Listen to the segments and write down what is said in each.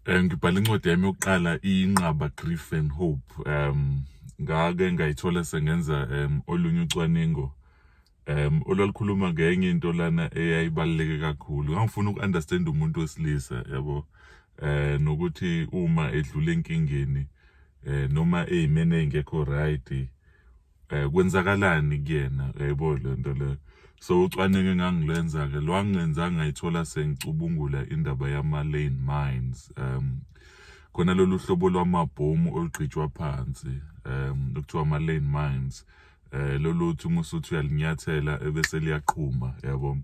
Eh, ngibhala incwadi yami yokuqala inqaba grief and hope um ngake ngayithola sengenza um olunye ucwaningo um olwalukhuluma ngenye into lana eyayibaluleke kakhulu ngangifuna uku-understand umuntu wesilisa yabo eh nokuthi uma edlula enkingeni eh noma eyimene engekho right eh kwenzakalani kuyena yebo lento le so ucwaningo engangilenza ke lwangenza ngayithola sengicubungula indaba yama lane mines um khona lolu hlobo lwamabhomu olugqitshwa phansi um okuthiwa ama lane mines eh lolu uthi uma usuthi uyalinyathela ebese liyaqhuma yabo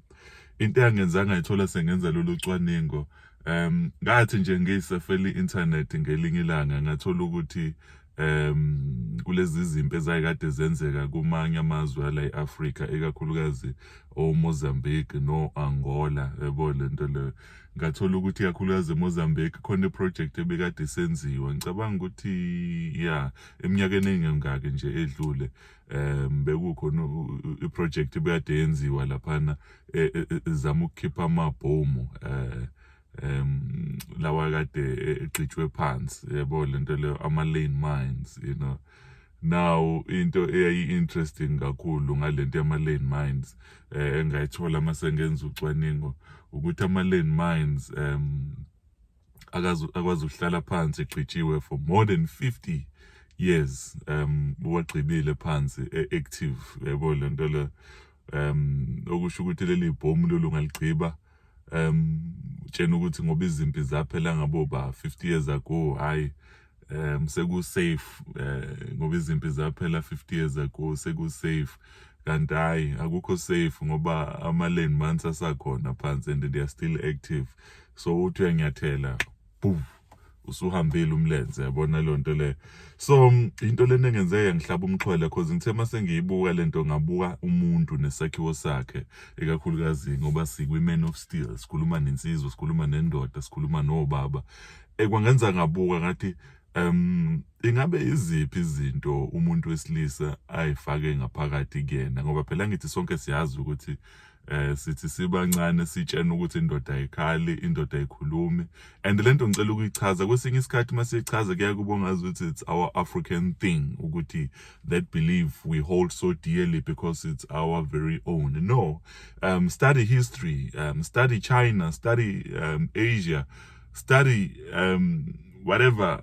into engenzanga ithola sengenza lolu cwaningo um ngathi nje ngisefeli internet ngelinye ilanga ngathola ukuthi um kulezi zimpi ezayikade zenzeka kumanye amazwe ala e-afrika ikakhulukazi omozambique no-angola yabo le nto leyo ngathola ukuthi ikakhulukazi emozambique khona iprojekthi ebikade isenziwa ngicabanga ukuthi ya eminyakeni engengaki nje edlule um bekukhona iprojekthi ebikade yenziwa laphana e, e, e, zama ukukhipha amabhomu um um lawa kade egxitshwe phansi yebo lento leyo ama-lane mines you know now into eyayi-interesting kakhulu ngalento yama-lane mines eh engayithola uma sengenza ucwaningo ukuthi ama-lane mines um akwazi ukuhlala phansi egxitshiwe for more than 50 years um wagxibile phansi e-active yebo lento le um okusho ukuthi leli bhomu lolungaligqiba um tshena ukuthi ngoba izimpi zaphela ngabo ba 50 years ago hayi um seku-safe um ngoba izimpi zaphela 50 years ago seku-safe kanti hhayi akukho safe ngoba ama-lane months asakhona phansi and they are still active so uthi uyanyathela boom usuhambile umlenze yabona leyo nto le so mm, into lena engenzeka yangihlaba umxhwele cause ngithe uma sengiyibuka le nto ngabuka umuntu nesakhiwo sakhe ikakhulukazi ngoba sikwi-man of steel sikhuluma nensizwa sikhuluma nendoda sikhuluma nobaba ekwangenza eh, ngabuka ngathi um ingabe iziphi izinto umuntu wesilisa ayifake ngaphakathi kuyena ngoba phela ngithi sonke siyazi ukuthi eh sithi sibancane sitshena ukuthi indoda ayikhali indoda ayikhulumi and lento ngicela ukuyichaza kwesinye isikhathi masichaza kuya kubongaza ukuthi it's our African thing ukuthi that belief we hold so dearly because it's our very own no um study history um study China study um Asia study um whatever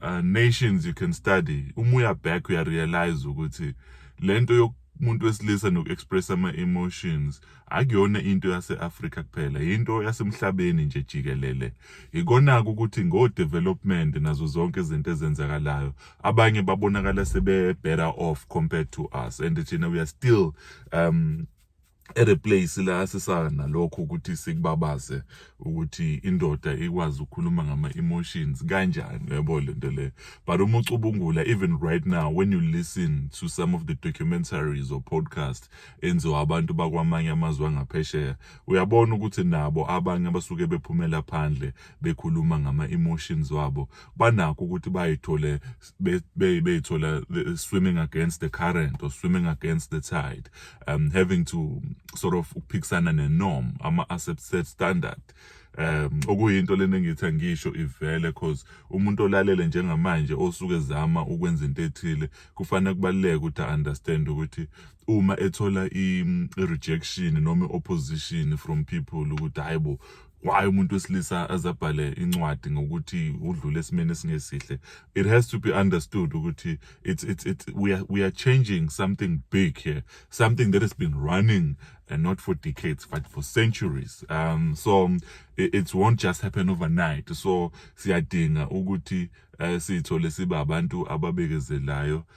uh, nations you can study uma uya back uya realize ukuthi lento umuntu wesilisa noku-expressa ama-emotions akuyona into yase-afrika kuphela yinto yasemhlabeni nje jikelele yikona-ke ukuthi ngo-development nazo zonke izinto ezenzakalayo abanye babonakala sebe-better off compared to us and thina we are still um ereplace la sisaka nalokho ukuthi sikubabaze ukuthi indoda ikwazi ukukhuluma ngama emotions kanjani yabo lento le but uma ucubungula even right now when you listen to some of the documentaries or podcast enziwa abantu bakwamanye amazwe angaphesheya uyabona ukuthi nabo abanye abasuke bephumela phandle bekhuluma ngama emotions wabo banakho ukuthi bayithole beyithola be, swimming against the current or swimming against the tide um having to sort of ukuphikisana ne norm ama accept set standard um okuyinto lena engithi angisho ivele cause umuntu olalele njengamanje osuke zama ukwenza into ethile kufanele kubaleke ukuthi understand ukuthi uma ethola i rejection noma opposition from people ukuthi hayibo why umuntu wesilisa azabhale incwadi ngokuthi udlule esimeni esingesihle it has to be understood ukuthi it's it's it's we are we are changing something big here something that has been running and not for decades but for centuries um so it, it won't just happen overnight so siyadinga ukuthi uh, sithole siba abantu ababekezelayo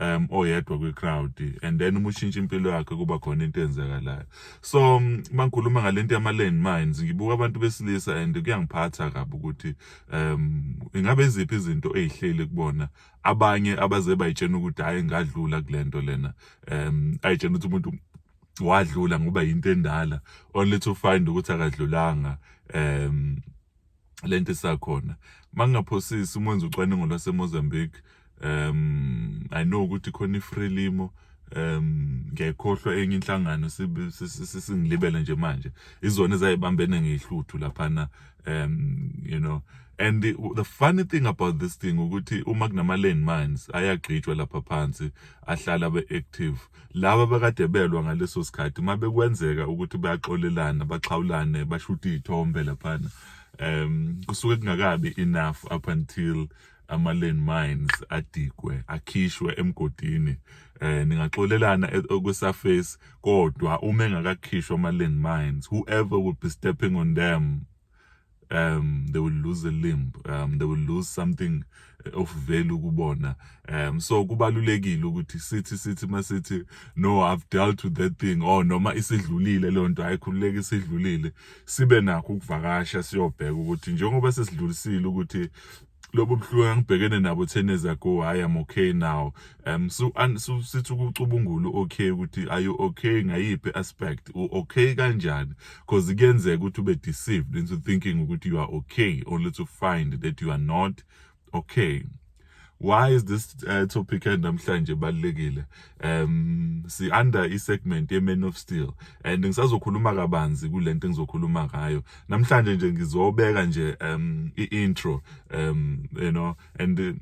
um oyedwa kwi-crowd and then uma ushintsha impilo yakhe kuba khona into eyenzakalayo so mm, mangikhuluma ngale nto yama-land mines ngibuka abantu besilisa and kuyangiphatha kabi ukuthi um ingabe iziphi izinto eyihleli kubona abanye abaze bayitshena ukuthi hhayi ngadlula kule nto lena um ayitshena ukuthi umuntu wadlula ngoba yinto endala only to find ukuthi akadlulanga um lento isakhona mangingaphosisi uma wenza ucwaningo lwaseMozambique um i know ukuthi khona ifrelimo um ngiyayikhohlwa enye inhlangano singilibele nje manje izona ezayibambene ngehluthu laphana um you know and the, the funny thing about this thing ukuthi uma kunama-land mines ayagqitshwa lapha phansi ahlala abe-active laba bakade belwa ngaleso sikhathi uma bekwenzeka ukuthi bayaxolelana baxhawulane bashute iy'thombe laphana um kusuke kungakabi enough up until ama-land mines adigwe akhishwe emgodini eh ningaxolelana e-, kwisurface kodwa uma engakakhishwa ama-land mines whoever would be stepping on them um they will lose a limb um they will lose something eh, of value kubona um so kubalulekile ukuthi sithi sithi masithi no i've dealt with that thing or oh, noma isidlulile leyo nto ayikhululeke isidlulile sibe nakho ukuvakasha siyobheka ukuthi njengoba sesidlulisile ukuthi lobo buhlungu angibhekene nabo 10 years ago hayi am okay now um so an so sithi ukucubungula okay ukuthi are you okay ngayiphi aspect u okay kanjani because kuyenzeka ukuthi ube deceived into thinking ukuthi you are okay only to find that you are not okay why is this uh, topic namhlanje balekile um si under i segment ye man of steel and ngisazokhuluma kabanzi kulento engizokhuluma ngayo namhlanje nje ngizobeka nje um i intro um you know and uh,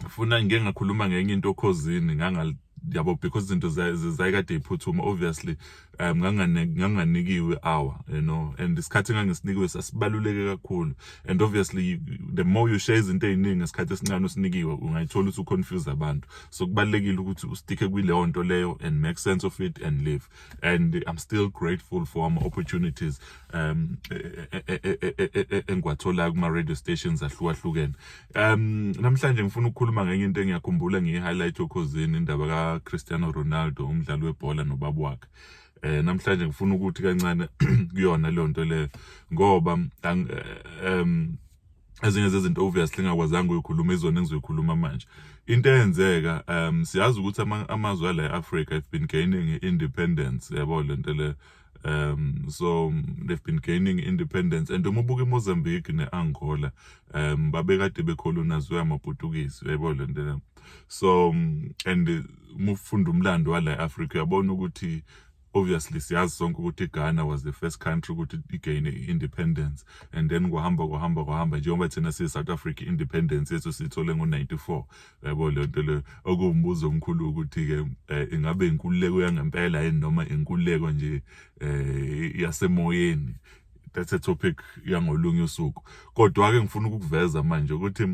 funa ngike ngakhuluma ngenye into okhozini ngangal yabo because izinto zayikade iphuthuma obviously um nganganikiwe hour you know and isikhathi engangisinikiwe sasibaluleke kakhulu and obviously the more you share izinto eziningi ngesikhathi esincane usinikiwe ungayithola ukuthi uconfuse abantu so kubalekile ukuthi usticke kwileyo nto leyo and make sense of it and live and i'm still grateful for ama opportunities um engiwatholayo kuma radio stations ahlukahlukene Um namhlanje ngifuna ukukhuluma ngenye into engiyakhumbula ngiyi-highlight okhozini indaba kaCristiano Ronaldo umdlali webhola nobaba wakhe. Eh namhlanje ngifuna ukuthi kancane kuyona leyo nto leyo ngoba um ezinye zezinto obviously ngakwazanga uyikhuluma izona engizoyikhuluma manje into eyenzeka um siyazi ukuthi amazwe ala e-Africa have been gaining independence yabo lento le um so they've been gaining independence and uma ubuka imozambique ne-angola um babekade bekholonaziwe amaputukisi uyayibona le nto le so and uma ufunda umlando wala e-afrika uyabona ukuthi obviously siyazi sonke ukuthi Ghana was the first country ukuthi igain independence and then kwahamba kwahamba kwahamba njengoba thina siyi South Africa independence yethu sithole ngo94 yabo le nto le okuwumbuzo omkhulu ukuthi-ke um ingabe inkululeko yangempela yini noma inkululeko nje um yasemoyeni that's a topic yangolunye usuku kodwa-ke ngifuna ukukuveza manje ukuthi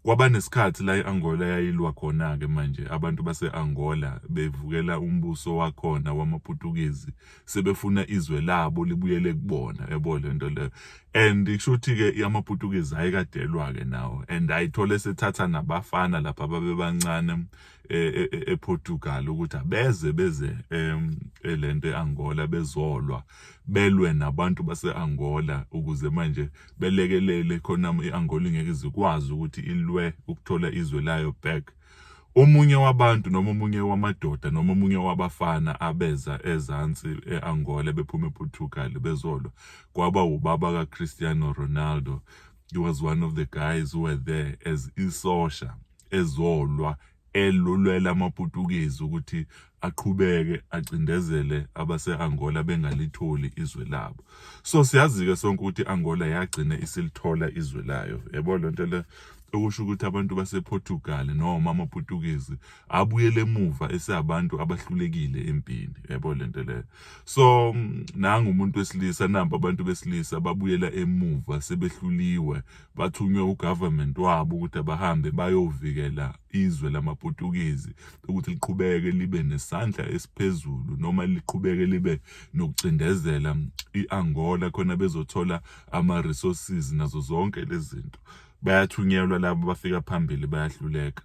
kwabanesikhathi la i-angola yayilwa khona-ke manje abantu base-angola bevukela umbuso wakhona wamaputukizi sebefuna izwe labo libuyele kubona yabo le nto leyo and kusho ukuthi-ke amaputukezi ayekadelwa-ke nawo and ayithole sethatha nabafana lapha babebancane um e, e, e, eportugal ukuthi abeze beze um le nto e-angola bezolwa belwe nabantu base-angola ukuze manje belekelele khona i-angola ingeke izikwazi ukuthi ilwe ukuthola izwe layo back Omunye wabantu noma omunye wamadoda noma omunye wabafana abeza ezansi e-Angola bephuma ePortugal bezolwa kwaba ubaba kaCristiano Ronaldo he was one of the guys who were there as isosha ezolwa elulwela amaPutukezi ukuthi aqhubeke acindezele abase-Angola bengalitholi izwe labo so siyazi-ke sonke ukuthi Angola yagcina isilithola izwe layo yebo le nto le okusho ukuthi abantu basePortugal noma amaPutukezi abuyele emuva eseabantu abahlulekile empini yebo le nto le so nangu umuntu wesilisa namba abantu besilisa babuyela emuva sebehluliwe bathunywe ugovernment wabo ukuthi abahambe bayovikela izwe lamaPutukezi ukuthi liqhubeke libe nesandla esiphezulu noma liqhubeke libe nokucindezela i-Angola khona bezothola ama-resources nazo zonke lezi zinto bayathunyelwa labo bafika phambili bayahluleka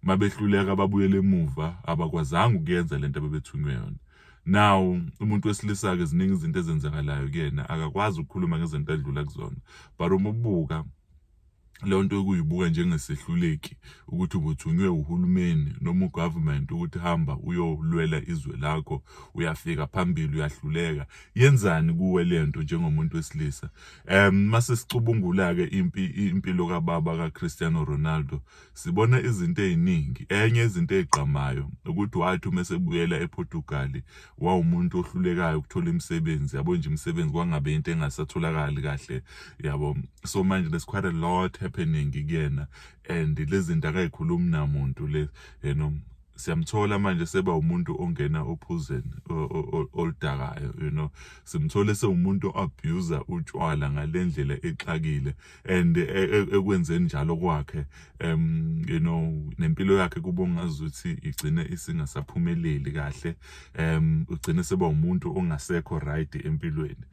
mabehluleka babuyele emuva abakwazanga ukuyenza lento abebethunywe yona now umuntu wesilisa-ke ziningi izinto ezenzakalayo kuyena akakwazi ukukhuluma ngezinto adlula kuzona but uma ubuka leyo nto yokuyibuka njengesehluleki ukuthi ubuthunywe uhulumeni noma ugovernment ukuthi hamba uyolwela izwe lakho uyafika phambili uyahluleka yenzani kuwe le nto njengomuntu wesilisa um mase sicubungula-ke impilo kababa kaCristiano Ronaldo Sibona izinto eziningi. Enye izinto ezigqamayo ukuthi wathi uma esebuyela ePortugal wawumuntu ohlulekayo ukuthola imisebenzi yabo nje imisebenzi kwangabe into engasatholakali kahle yabo. So manje there's quite a lot happening kuyena and lezinto akayikhulumi namuntu le you know siyamthola manje seba umuntu ongena ophuzeni oludakayo you know simthole sewumuntu oabuser utshwala ngalendlela exakile and e, e, ekwenzeni njalo kwakhe um you know nempilo yakhe kuba ungazi ukuthi igcine isingasaphumeleli kahle um ugcine seba umuntu ongasekho right empilweni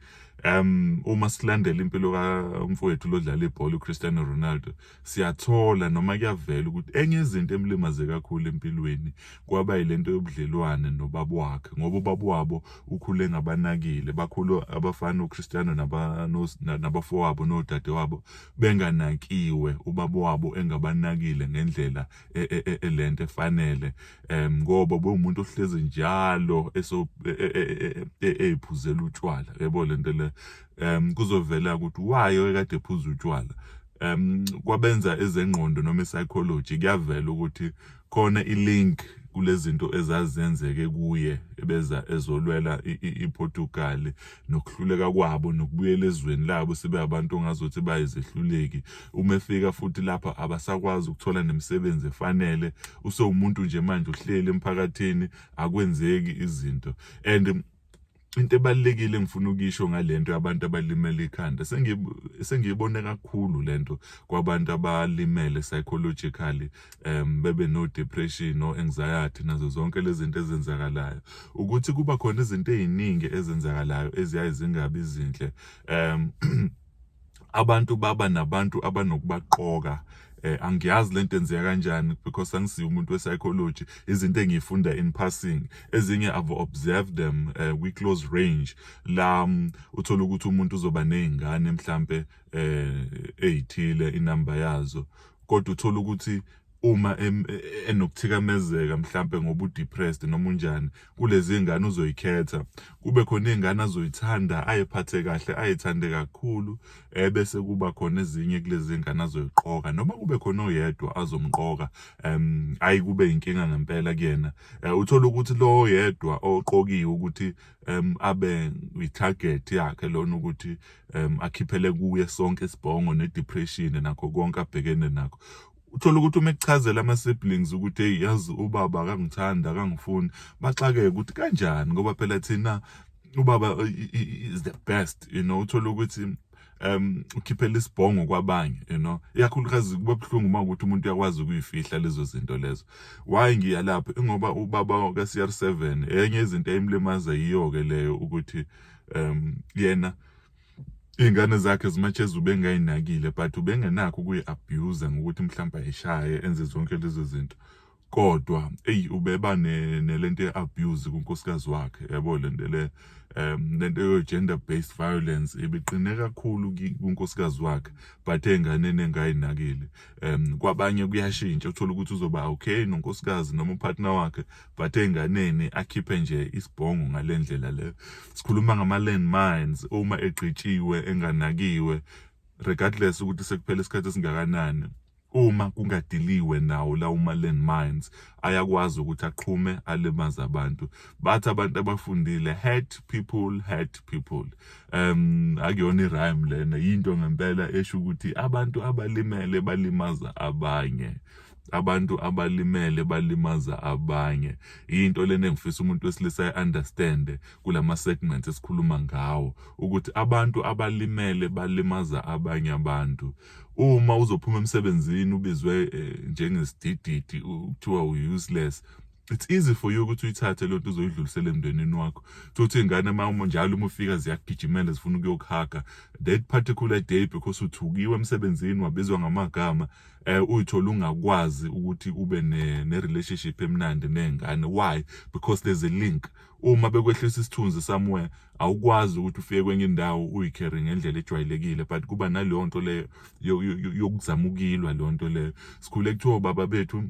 um uma silandela impilo kamfowethu lodlala ibhola uCristiano Ronaldo siyathola noma kuyavela ukuthi enye izinto emlimaze kakhulu empilweni kwaba yilento yobudlelwane nobaba wakhe ngoba ubaba wabo ukhule ngabanakile bakhulu abafana uCristiano nabafowabo nodadewabo benganakiwe ubaba wabo engabanakile ngendlela e, e, e, elento efanele um ngoba bewumuntu ohlezi njalo eyiphuzela utshwala yebo lento le um kuzovela ukuthi wayo ekade ephuza utshwala um kwabenza ezengqondo noma ipsychology kuyavela ukuthi Khona i-link kulezinto ezazenzeke kuye ebeza ezolwela iPortugal nokuhluleka kwabo nokubuyela ezweni labo sibe abantu ongazothi bayizehluleki uma efika futhi lapha abasakwazi ukuthola nemisebenzi efanele usewumuntu nje manje uhleli emphakathini akwenzeki izinto and into ebalekile engifuna ukisho ngalento yabantu abalimele ikhanda sengiyibone kakhulu lento kwabantu abalimele psychologically um bebe no depression no anxiety nazo zonke lezi zinto ezenzakalayo ukuthi kuba khona izinto eziningi ezenzakalayo eziyaye zingabi zinhle um abantu baba nabantu abanokubaqoka eh angiyazi lento enzeka kanjani because angisiyo umuntu wepsychology izinto engiyifunda in passing ezinye i've observed them uh, we close range la um, uthola ukuthi umuntu uzoba nezingane mhlambe eh ezithile inamba yazo kodwa uthola ukuthi uma enokuthikamezeka mhlampe ngoba udepressed noma unjani kulezi ngane uzoyikhetha kube khona izingane azoyithanda ayiphathe kahle ayithande kakhulu eh, bese kuba khona ezinye kulezi ngane azoyiqoka noma kube khona oyedwa azomqoka um ayi kube inkinga ngempela kuyena eh, uthola ukuthi lo oyedwa oqokiwe ukuthi um abe itarget yakhe lona ukuthi um akhiphele kuye sonke isibhongo nedepression nakho konke abhekene nakho uthole ukuthi uma ekuchazela ama-siblings ukuthi eyi yazi ubaba akangithandi akangifuni baxakeke ukuthi kanjani ngoba phela thina ubaba is the best you know uthole ukuthi um ukhiphela isibhongo kwabanye you know iyakhulukazi kuba buhlungu uma ukuthi umuntu uyakwazi ukuyifihla lezo zinto lezo why ngiya lapho ingoba ubaba ka-CR7 enye izinto ayimlimaza yiyo-ke leyo ukuthi um yena iy'ngane zakhe zimatsheza ubengayinakile but ubengenakho ukuyi-abuse ngokuthi mhlawumbe ayishaye enze zonke lezo zinto kodwa eyi ubeba nelento ye-abuse kunkosikazi wakhe yabo lento le um lento yo-gender based violence ibiqine kakhulu kunkosikazi wakhe but ey'nganeni engayinakile um kwabanye kuyashintsha uthole ukuthi uzoba okay nonkosikazi noma upartner wakhe but enganeni akhiphe nje isibhongo ngalendlela le sikhuluma ngama landmines uma egqitshiwe enganakiwe regardless ukuthi sekuphele isikhathi esingakanani uma kungadiliwe nawo la uma landmines ayakwazi ukuthi aqhume alimaze abantu bathi abantu abafundile hurt people hurt people um akuyona irhyme lena yinto ngempela esho ukuthi abantu abalimele balimaza abanye abantu abalimele balimaza abanye into lena engifisa umuntu wesilisa i-understande kulama-segments esikhuluma ngawo ukuthi abantu abalimele balimaza abanye abantu uma uzophuma emsebenzini ubizwe eh, njengesidididi kuthiwa u-useless it's easy for you ukuthi uyithathe loo nto uzoyidlulisela emndenini wakho thothi ingane mama njalo uma ufika ziyakugijimela zifuna ukuyokuhaga that particular day because uthukiwe emsebenzini wabizwa ngamagama eh uyithola ungakwazi ukuthi ube ne, ne relationship emnandi nengane why because there's a link uma bekwehlisa isithunzi somewhere awukwazi ukuthi ufike kwenye indawo uyicarry ngendlela ejwayelekile but kuba naleyo nto leyo yokuzamukilwa leyo nto leyo sikhule kuthiwa baba bethu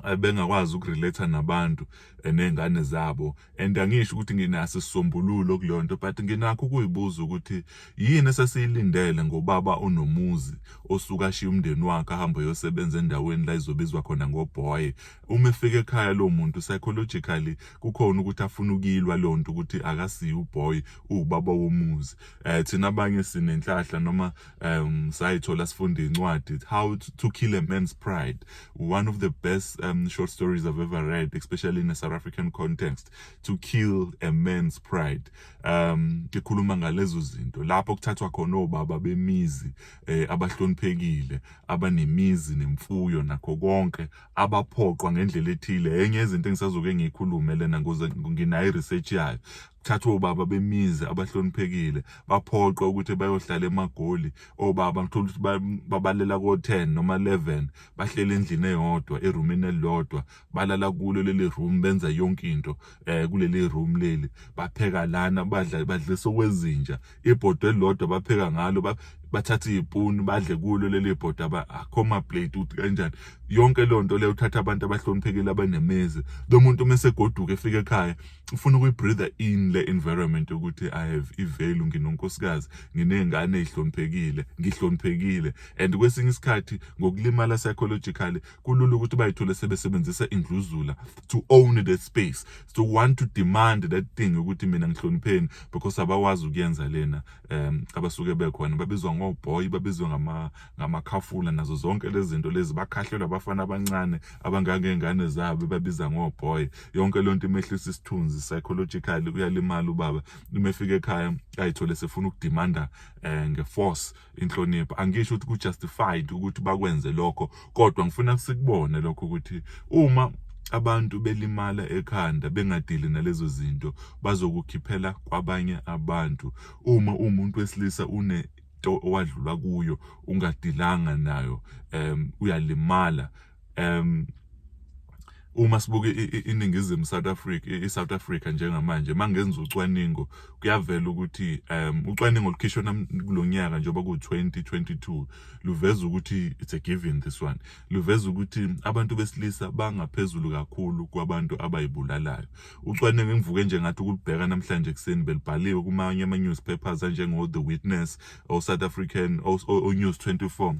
eh, bengakwazi ukurelate nabantu eh, nezingane zabo and angisho ukuthi nginaso isisombululo kuleyo nto but nginakho ukuyibuza ukuthi yini esesiyilindele ngobaba onomuzi osuka ashiya umndeni wakhe ahambe yosebenza endaweni la izobizwa khona ngoboy uma efika ekhaya lo muntu psychologically kukhona ukuthi afuna ukuyilwa leyo nto ukuthi akasiyi uboy uwubaba womuzi um thina abanye sinenhlahla noma um sayithola sifunda incwadi how to kill a man's pride one of the best um, short stories i've ever read especially in a south african context to kill a man's pride um ikhuluma ngalezo zinto lapho kuthathwa khona obaba bemizi eh, abahloniphekile abanemizi nemfuyo nakho konke abaphoqwa ngendlela ethile enye izinto engisazoke ngiyikhulume lena ngoze nginayo research yayo thathwa obaba bemizi abahloniphekile baphoqwa ukuthi bayohlala emagoli obaba ngithola ukuthi babalela ko-10 noma 11 bahleli endlini eyodwa erumini elilodwa balala kulo leli room benza yonke into um kuleli room leli bapheka lana badla badlisa okwezinja ibhodwe elilodwa bapheka ngalo bathathe iy'puni badle kulo leli bhodi akho maplate ukuthi kanjani yonke leyo nto leyo uthatha abantu abahloniphekile abanemizi lo muntu uma esegoduka efika ekhaya ufuna ukuyibreather in le environment ukuthi i have ivalue nginonkosikazi nginezingane ezihloniphekile ngihloniphekile and kwesinye isikhathi ngokulimala psychologically kulula ukuthi bayithole sebesebenzisa indluzula to own the space so want to demand that thing ukuthi mina ngihlonipheni because abawazi ukuyenza lena um abasuke bekhona babizwa ngoboy babizwa ngama ngamakhafula nazo zonke lezi zinto lezi bakhahlelwa abafana abancane abangangengane zabo babiza ngoboy yonke lento imehlisa isithunzi psychologically uyalimala ubaba uma efika ekhaya ayithole sefuna ukudimanda eh, ngeforce inhlonipho angisho ukuthi kujustified ukuthi bakwenze lokho kodwa ngifuna sikubone lokho ukuthi uma abantu belimala ekhanda bengadili nalezo zinto bazokukhiphela kwabanye abantu uma umuntu wesilisa une into owadlula kuyo ungadilanga nayo um uyalimala um uma sibuke iningizimu South Africa iSouth Africa njengamanje mangenza ucwaningo kuyavela ukuthi um ucwaningo lukhishwe kulonyaka njengoba ku 2022 luveza ukuthi it's a given this one luveza ukuthi abantu besilisa bangaphezulu kakhulu kwabantu abayibulalayo Ucwaningo engivuke nje ngathi ukulibheka namhlanje ekuseni belibhaliwe kumanye ama-newspapers anjengo-the witness o-south african o-news 24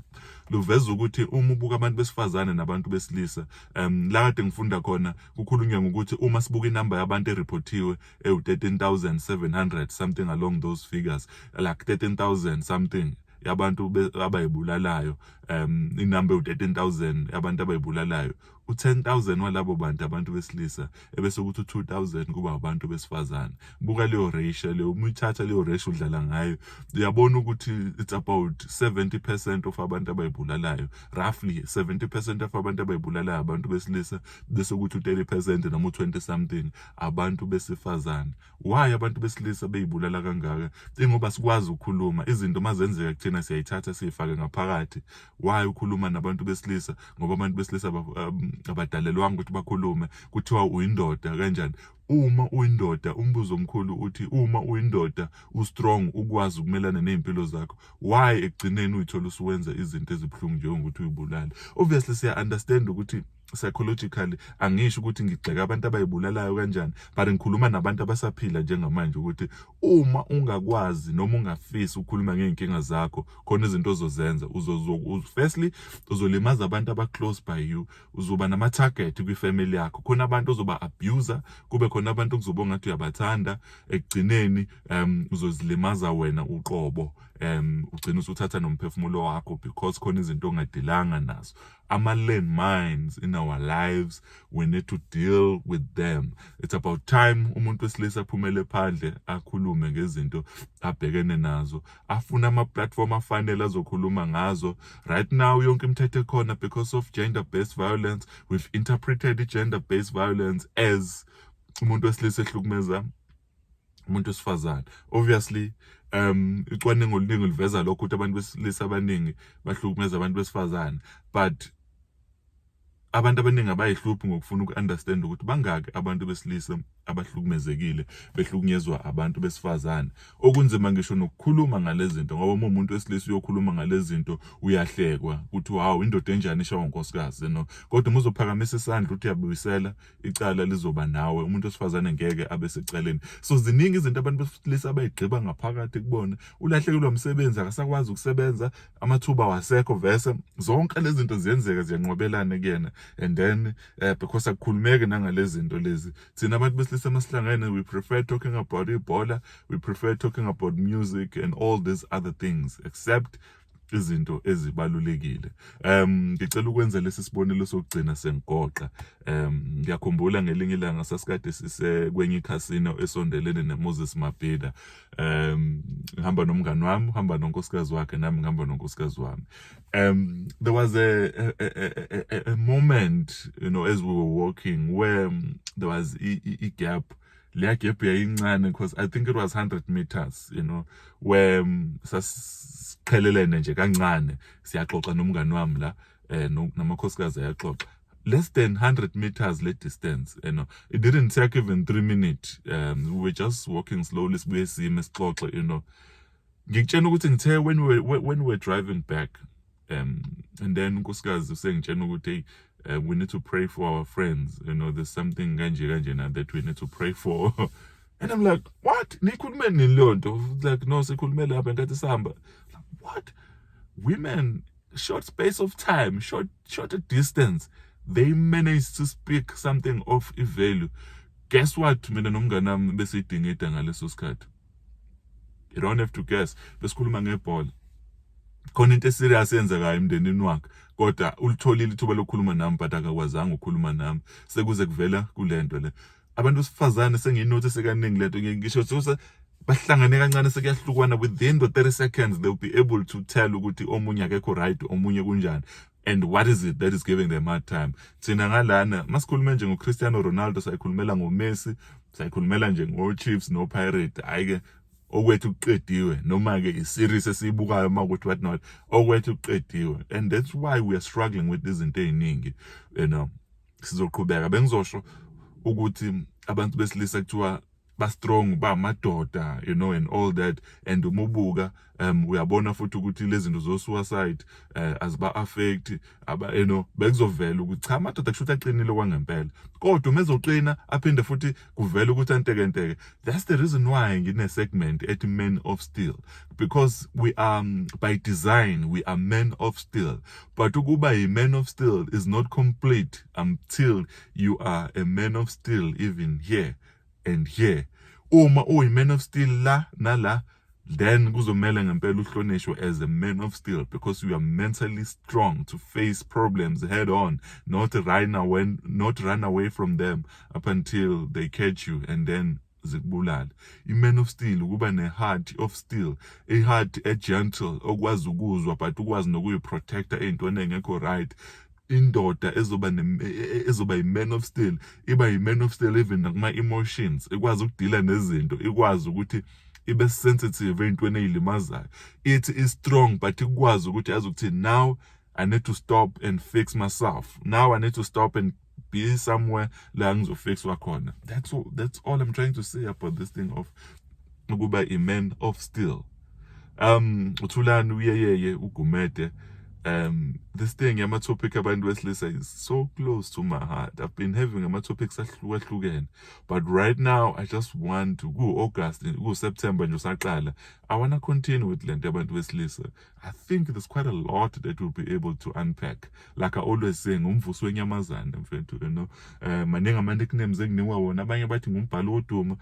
luveza ukuthi uma ubuka abantu besifazane nabantu besilisa um la kade ngifunda khona kukhulunywa ngokuthi uma sibuka inamba yabantu eripothiwe ewu-13700 something along those figures like 13000 something yabantu abayibulalayo um inamba ewu-13000 yabantu abayibulalayo u-10000 walabo bantu abantu besilisa ebese ukuthi u-2000 kuba abantu besifazane buka leyo ratio leyo uma uyithatha leyo ratio udlala ngayo uyabona ukuthi it's about 70% of abantu abayibulalayo roughly 70% of abantu abayibulalayo abantu besilisa bese ukuthi u-30% noma u-20 something abantu besifazane why abantu besilisa beyibulala kangaka ingoba sikwazi ukukhuluma izinto mazenzeka kuthina siyayithatha siyifake ngaphakathi why ukhuluma nabantu besilisa ngoba abantu besilisa um, abadalelwanga ukuthi bakhulume kuthiwa uyindoda kanjani uma uyindoda umbuzo omkhulu uthi uma uyindoda ustrong ukwazi ukumelana nezimpilo zakho why ekugcineni uyithola usuwenza izinto ezibuhlungu njengokuthi uyibulale obviously siya understand ukuthi psychologically angisho ukuthi ngigxeka abantu abayibulalayo kanjani but ngikhuluma nabantu abasaphila njengamanje ukuthi uma ungakwazi noma ungafisi ukukhuluma ngeenkinga zakho khona izinto ozozenza uzozo firstly uzolimaza abantu aba close by you uzoba nama target kwi family yakho khona abantu ozoba abuser kube khona abantu okuzoba ngathi uyabathanda ekugcineni um uzozilimaza wena uqobo um ugcina usuthatha nomphefumulo wakho because khona izinto ongadilanga nazo ama-land mines in our lives we need to deal with them it's about time umuntu wesilisa aphumele phandle akhulume ngezinto abhekene nazo afuna ama-platform afanele azokhuluma ngazo right now yonke imithetho ekhona because of gender based violence we've interpreted i-gender based violence as umuntu wesilisa ehlukumeza umuntu wesifazane obviously um icwaningo oluningi liveza lokho ukuthi abantu besilisa abaningi bahlukumeza abantu besifazane but abantu abaningi abayihluphi ngokufuna uku-understand ukuthi bangaki abantu besilisa abahlukumezekile behlukunyezwa abantu besifazane okunzima ngisho nokukhuluma ngalezi zinto ngoba uma umuntu wesilisa uyokhuluma ngalezi zinto uyahlekwa ukuthi hawu indoda enjani ishawa unkosikazi no kodwa uma uzophakamisa isandla uthi uyabuyisela icala lizoba nawe umuntu wesifazane ngeke abe secaleni so ziningi izinto abantu besilisa abayigqiba ngaphakathi kubona ulahlekelwa umsebenzi akasakwazi ukusebenza amathuba wasekho vese zonke lezi zinto ziyenzeka ziyanqwabelana kuyena and then uh, because akukhulumeki nangalezi zinto lezi thina abantu besilisa masihlangene we prefer talking about ibhola we prefer talking about music and all these other things except izinto ezibalulekile um ngicela ukwenza lesi sibonelo sokugcina sengigoqa um ngiyakhumbula ngelinye ilanga sasikade sisekwenye ikhasino esondelene nemoses mabhida um ngihamba nomngani wami uhamba nonkosikazi wakhe nami ngihamba nonkosikazi wami um there was a, a, a, a, a moment you know as we were walking where um, there was a, a, a gap leya gap yayincane because i think it was 100 meters you know where um, sasiqhelelene nje kancane siyaxoxa nomngani wami la eh namakhosikazi ayaxoxa less than 100 meters le distance you know it didn't take even 3 minutes um, we were just walking slowly sibuye sime sixoxe you know ngikutshena ukuthi ngithe when we when we driving back um and then unkosikazi usengitshena ukuthi hey uh, we need to pray for our friends you know there's something kanje kanje na that we need to pray for and i'm like what nikhulume nini leyo nto like no sikhulume lapha ngathi sihamba what women short space of time short short distance they managed to speak something of value guess what mina nomngane wami besidingida ngaleso sikhathi you don't have to guess besikhuluma ngebhola khona into eserious yenzekayo emndenini wakhe kodwa ulitholile ithuba lokukhuluma nami but akakwazanga ukukhuluma nami sekuze kuvela kulento le abantu besifazane sengiyinothi sekaningi lento ngisho sose bahlangane kancane sekuyahlukwana within the 30 seconds they'll be able to tell ukuthi omunye akekho right omunye kunjani and what is it that is giving them hard time thina ngalana masikhulume nje ngoCristiano Ronaldo sayikhulumela ngoMessi sayikhulumela nje ngoChiefs noPirate ayike okwethu kuqediwe noma ke iseries esiyibukayo uma ukuthi what not okwethu kuqediwe and that's why we are struggling with izinto eziningi you know sizoqhubeka bengizosho ukuthi abantu besilisa kuthiwa ba strong ba madoda you know and all that and umubuka um uyabona futhi ukuthi lezinto zo suicide uh, eh, aziba affect aba you know bekuzovela ukuthi cha madoda kushuthi aqinile kwangempela kodwa uma ezoqina aphinde futhi kuvela ukuthi antekenteke that's the reason why ngine segment ethi men of steel because we are um, by design we are men of steel but ukuba yi men of steel is not complete until you are a man of steel even here and here uma uyi man of steel la nala then kuzomela ngempela uhlonishwe as a man of steel because you are mentally strong to face problems head on not run away not run away from them up until they catch you and then zikubulala i-man of steel ukuba ne-heart of steel i-heart e-gentle okwazi ukuzwa but ukwazi nokuyiprotecta ey'ntweni engekho right indoda ezoba e, e, ezoba yi-man of steel iba yi-man of steel even nakuma-emotions ikwazi ukudila nezinto ikwazi ukuthi ibe sensitive ey'ntweni ey'limazayo ithi i-strong but ikwazi ukuthi yazi ukuthi now i need to stop and fix myself now i need to stop and be somewhere la ngizofixwa khona that's all, that's all i'm trying to say about this thing of ukuba i-man of steel um uthulani uyeyeye ugumede um this thing yama topic abantu besilisa is so close to my heart i've been having ama topics ahlukahlukene but right now i just want to ku august ku september nje usaqala i want to continue with lento abantu besilisa i think there's quite a lot that we'll be able to unpack like i always say ngumvusi wenyamazane mfethu you know um maningi ama nicknames enginiwa wona abanye bathi ngumbhalo woduma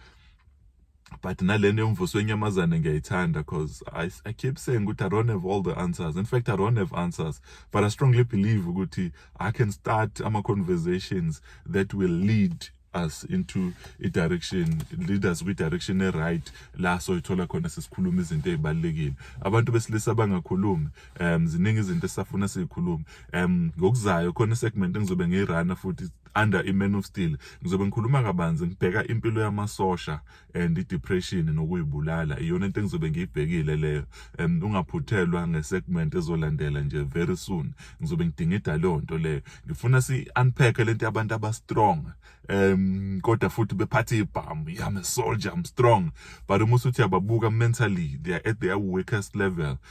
but nalena yomvuso wenyamazane ngiyayithanda because I, I keep saying ukuthi I don't have all the answers in fact I don't have answers but I strongly believe ukuthi I can start ama conversations that will lead us into a direction lead us kwi direction e right la so ithola khona sesikhuluma izinto ezibalekile abantu besilisa bangakhulumi um ziningi izinto esafuna sizikhuluma um ngokuzayo khona segment engizobe ngiyirana futhi under iMan of Steel ngizobe ngikhuluma kabanzi ngibheka impilo yamasosha and idepression nokuyibulala iyona into engizobe ngiyibhekile leyo um ungaphuthelwa ngesegment ezolandela nje very soon ngizobe ngidingida leyo nto leyo ngifuna si unpack lento yabantu aba strong um kodwa futhi bephathe ibhamu I'm a soldier I'm strong but uma usuthi ababuka mentally they are at their weakest level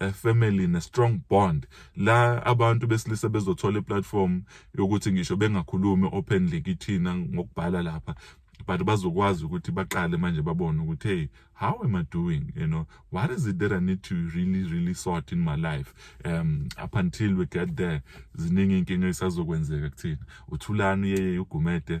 eh, family ne strong bond la abantu besilisa bezothola iplatform yokuthi ngisho bengakhulumi openly kithina ngokubhala lapha but bazokwazi ukuthi baqale manje babone ukuthi hey how am i doing you know what is it that i need to really really sort in my life um up until we get there ziningi inkinga esazokwenzeka kuthina uthulani yeye ugumede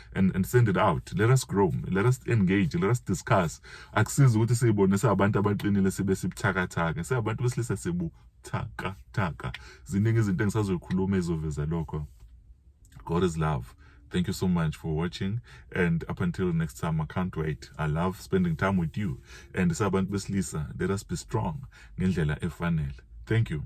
and, and send it out let us grow let us engage let us discuss akusizi ukuthi siyibone siyabantu abaqinile sibe sibuthakathaka siyabantu besilisa sibuthakathaka ziningi izinto engisazoyikhuluma ezoveza lokho god is love Thank you so much for watching. And up until next time, I can't wait. I love spending time with you. And Saban Beslisa, let us be strong. Thank you.